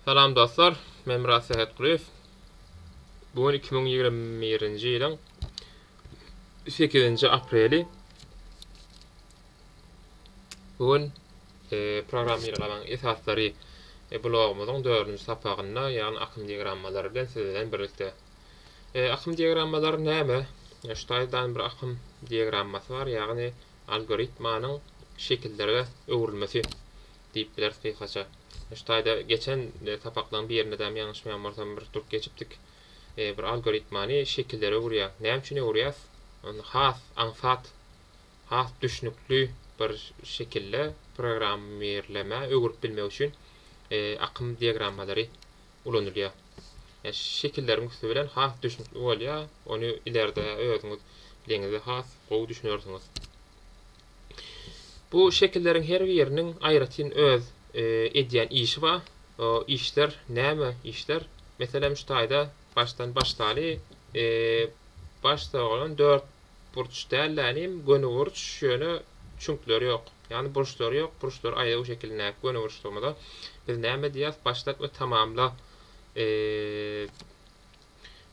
Salam dostlar, men Myrat Sähetgulyýew. Bu gün iki müň ýigrimi birinji ýylyň sekizinji apreli. Bu gün e, programmirlamaň esaslary e, blogumyzyň dördünji sapagynda, ýagny akym diagrammalary bilen siz bilen birlikde. E, akym diagrammalary näme? E, şu taýdan bir akym diagrammasy bar, ýagny algoritmanyň şekillerge öwrülmesi diýip bileris gysgaça. Şu taýda geçen sapaklaryň birindem ýalňyşmaýan bolsam bir durup geçipdik. Bir algoritmany şekillere öwürýär. Näme üçin öwürýäs? Ony has aňsat, has düşnükli bir şekilde programmirlemä öwürip bilmek üçin akym diagrammalary ulanylýar. Şekilleriň üsti bilen has düşnükli bolýar, ony ileride özüňiz bileňizde has gowy düşünersiňiz. Bu şekilleriň her biriniň aýratyn öz edýän işi bar. O işler näme işler? Meselem şu taýda başdan başdaly baş sogran dört burç däl-de inim, göni burç, ýöne çüňkleri ýok. Ýagny burçlary ýok, burçlary aýlaw şekilindäki göni burçlygymyza biz näme diýýäs, başlat we tamamla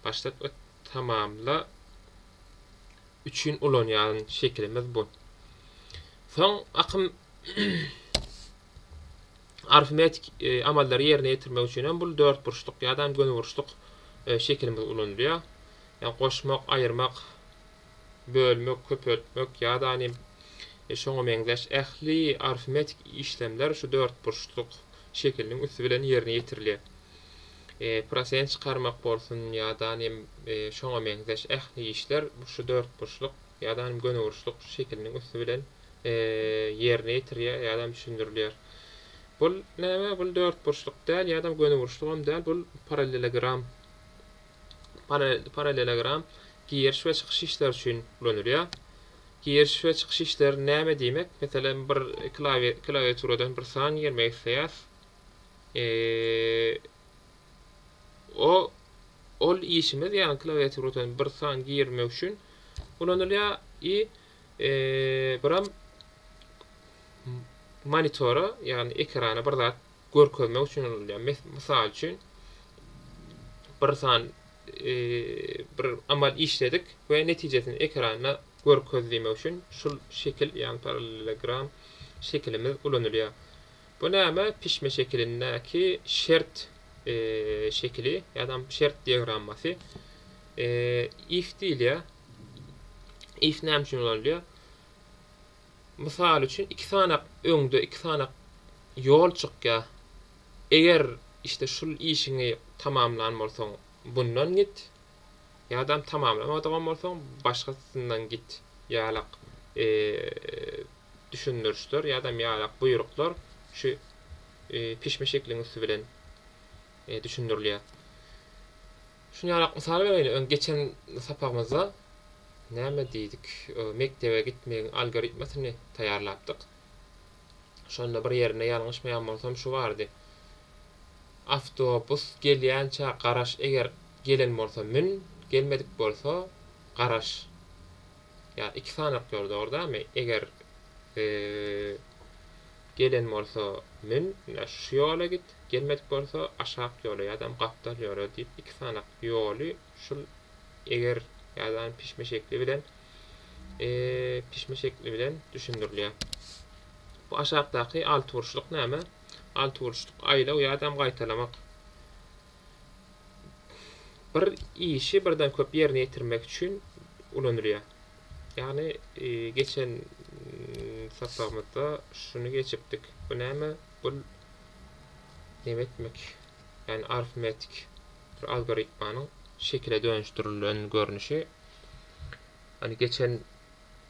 başlat we tamamla üçin ulanýan şekilimiz bu. Soň akym arifmetiki amallary ýerine ýetirmek üçin hem bul dörtburçluk ýa-da hem gönüburçluk şekilimiz ulanylýar. Ýa goşmak, aýyrmak, bölmek, köpeltmek ýa-da hem şoňa meňzeş ähli arifmetiki işlemler şu dörtburçluk şekiliniň üsti bilen ýerine ýetirilýär. Prosent çykarmak bolsun ýa-da hem şoňa meňzeş ähli işler şu dörtburçluk ýa-da hem gönüburçluk şekiliniň üsti bilen ýerine ýetirýär ýa-da düşündirilýär. Bul näme? Bul dörtburçluk däl ýa-da gönüburçlugam däl, bul parallelogram. Parallelogram giriş we çykyş işleri üçin ulanylýar. Giriş we çykyş işleri näme diýmek? Meselem, bir klawiaturadan bir san girmek isleýäs. O ol işimiz, ýagny klawiaturadan bir san girmek üçin ulanylýar. I Buram monitora, ýagny ekrana bir zat görkezmek üçin ulanylýar. Mysal üçin, bir san bir amal işledik we netijesini ekranda görkez diýmek üçin şul şekil, ýagny parallelogram şekilimiz ulanylýar. Bu näme? Pişme şekilindäki şert şekili ýa-da şert diagrammasy. If diýilýär. If näme üçin ulanylýar? Mysal üçin, iki sanak öňde iki sanak ýol çykýar. Eger işte şul işiňi tamamlan bolsaň, bundan git. Ýadam tamamlamadagan bolsaň, başgasyndan git. Ýalak düşündirişler ýadam ýalak buýruklar şu pişme şekliň üsti bilen düşündirilýär. Şuny ýalak mysal bereýin, öň geçen sapagymyzda näme diýdik, mekdebe gitmegiň algoritmasyny taýýarlapdyk. Şonda bir ýerinde ýalňyşmaýan bolsam şu bardy, Awtobus gelýänçä garaş, eger gelen bolsa mün, gelmedik bolsa garaş. Ýa iki sanak ýor dogrdamy eger gelen bolsa mün şu ýola git gelmedik bolsa aşak ýola ýadam gapdal ýola diýip iki sanak ýoly şul eger ýadam pişme şekli bilen pişme şekli bilen düşündirilýär. Bu aşakdaky alty burçluk näme? Alty burçluk aýlaw ýadam gaýtalamak Bir işi birden köp ýerine ýetirmek üçin ulanylýar. Ýagny geçen sapagymyzda şuny geçipdik. Bu näme? Bu näme etmek? Ýagny arifmetik bir algoritmanyň şekile dönüşdirilen görnüşi. Ýagny geçen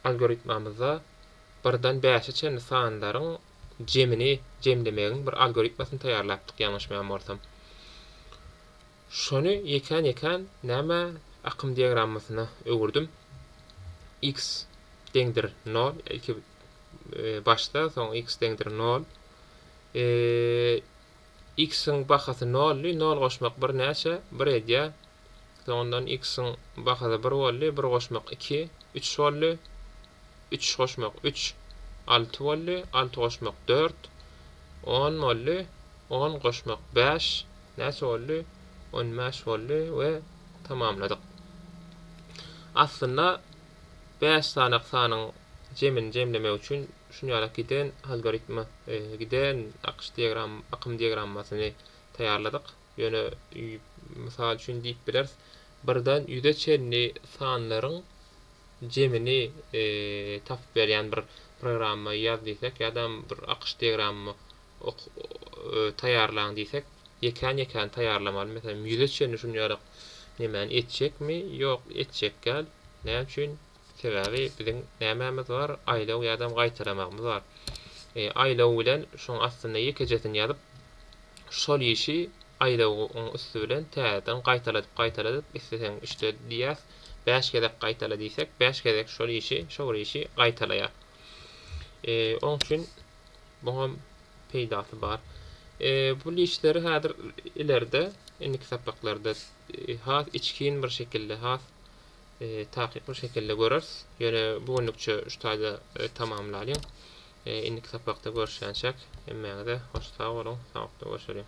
algoritmamyzda birden bäşe çenli sanlaryň jemini jemlemegiň bir algoritmasyny taýýarlapdyk ýalňyşmaýan bolsam. Şony ýekän-ýekän nämä akym diagrammasyna öwürdim. X deňdir nol ilki başda soň x deňdir nol. X-iň bahasy noldy, nol goşmak bir näçe? Bir edýär. Soňundan x-iň bahasy bir boldy, bir goşmak iki, üç boldy, üç goşmak üç, alty boldy, alty goşmak dört, on boldy, on goşmak bäş, näçe boldy? On bäş boldy we tamamladyk. Aslynda bäş sanak sanyň jemini jemlemek üçin şuny ýaly giden algoritmi, giden akyş diagram, akym diagrammasyny taýýarladyk. Ýöne, mysal üçin diýip bileris, birden ýüze çenli sanlaryň jemini tapyp berýän bir programma ýaz diýsek ýa-da bir akyş diagrammy taýýarlaň diýsek, ýekän-ýekän taýýarlamaly. Meselem, ýüze çenli şunjalyk nemäni etjekmi? Ýok, etjek däl. Näme üçin? Sebäbi biziň nämämiz bar, aýlaw ýadam gaýtalamagymyz bar. Aýlaw bilen şoň astynda ýekejesini ýazyp, şol işi aýlawyň üsti bilen täzeden gaýtaladyp-gaýtaladyp, isleseň üçde diýýäs, bäş gezek gaýtala diýsek, bäş gezek şol işi, şo bir işi gaýtalaýar. Oň üçin muňam peýdasy bar. Bu lişleri häzir ileride, indiki sapaklarda has içgin bir şekilde, has Takykly şekilde göreris. Ýöne bu günlükçe şu taýda tamamlalyň. Indiki sapakda görüşýänçäk. Hemmäňize hoş sag boluň. Sagakda görüşeliň.